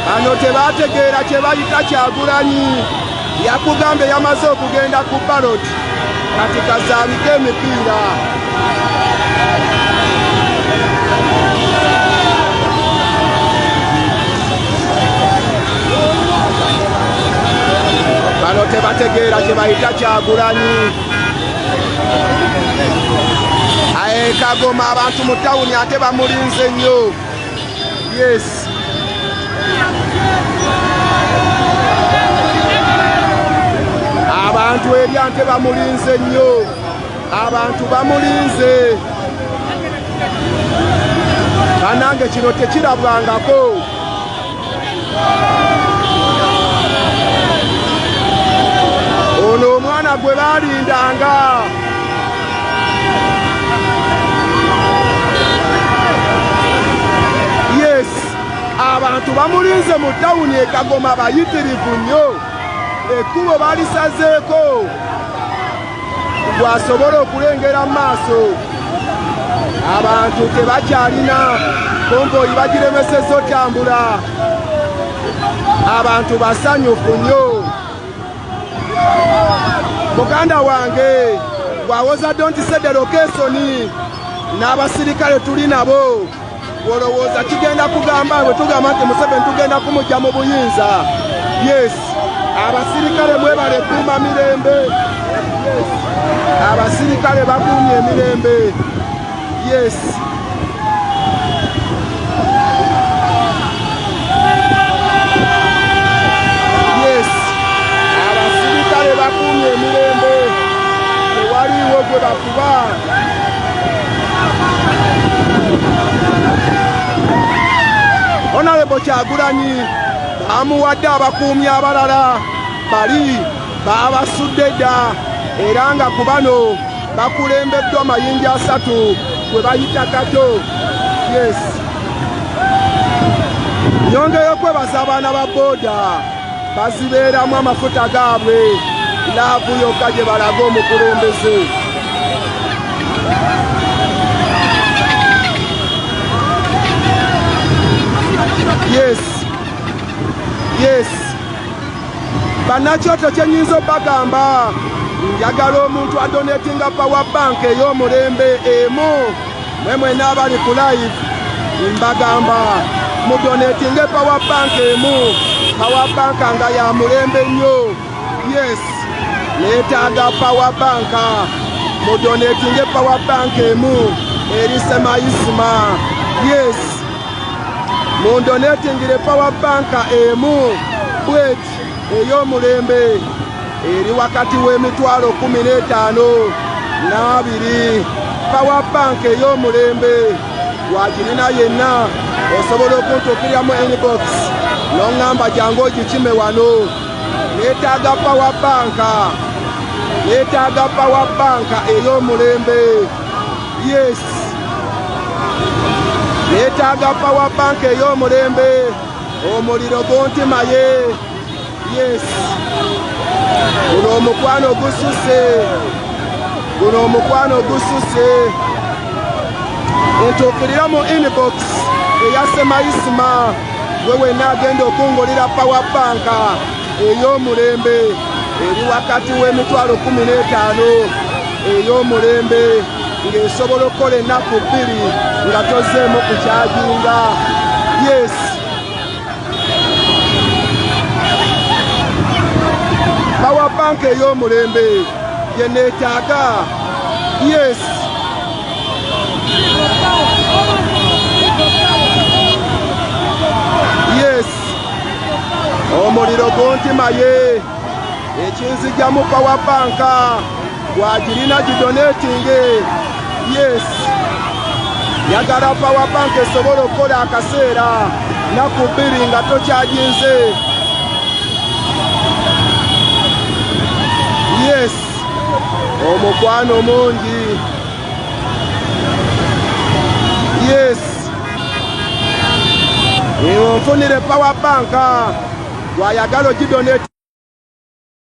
bano tebategeera kye bayita kyagulanyi yakugamba eyamaze okugenda ku balot kati kazaalika emipiira bano tebategeera kye bayita kyagulanyi aye kagoma abantu mu tawuni ate bamulinze nnyo Yes. Abantu ebyante bamulinze nnyo. Abantu bamulinze. Banange kino tekirabwangako. ono omwana gwe baalindanga yes abantu bamulinze mu tawuni ekagoma bayitirivu nnyo ekkubo balisazeeko gwasobola okulengera mu maaso abantu tebakyalina komboyi bagiremeseza otambula abantu basanyufu nnyo muganda wange gwawoza dontisedero kesoni n'abasirikale tuli nabo Olowooza kigenda kugamba bwe tugamba nti Museveni tugenda kumujja mu buyinza? Yes, abasirikale mwebale kuuma mirembe. Yes, abasirikale bakuumye emirembe. Yes. Honorable Kyagulanyi amuwadde abakuumi abalala bali baabasudde dda era nga ku bano bakulembeddwa mayinja asatu gwe bayita kato yes nyongeyo kwebaza abaana ba booda bazibeeramu amafuta gaabwe laavu yokka gye balaga omukulembeze yes yes bannakyoto kyenyinza obagamba njagala omuntu adonetinga power bank ey'omulembe emu mwe mwena abali ku live mbagamba mudonetinge power bank emu power bank nga ya mulembe nnyo yes neetaaga power bank mudonetinge power bank emu eri semayisima yes mundonetingire power bank emu bwet ey'omulembe eri wakati w'emitwalo kumi n'etaano n'abiri pawa banka ey'omulembe wakirina yenna osobola okuntuukiriramu inbox noŋŋamba jangu ogikime wano neetaaga pawa banka neetaaga pawa banka ey'omulembe yes neetaaga pawa banka ey'omulembe omuliro guntimaye Yes. Guno omukwano gususe. Guno omukwano gususe. Ntuukirira mu inbox eya Semayisima gwe wenna agenda okungulira power bank ey'omulembe eri wakati w'emitwalo kumi n'etaano ey'omulembe ng'esobola okukola ennaku bbiri nga tozeemu kukyajinga yes bawa banka ey'omulembe yeneetaaga yes yes omuliro guntimaye ekinzijamu bawa banka wagirina gidonetinge yes yagala power bank esobola okukola akaseera naku bbiri nga tokyaginze yes omukwano mungi yes ewo nfunire power bank gwayagala ogidoneti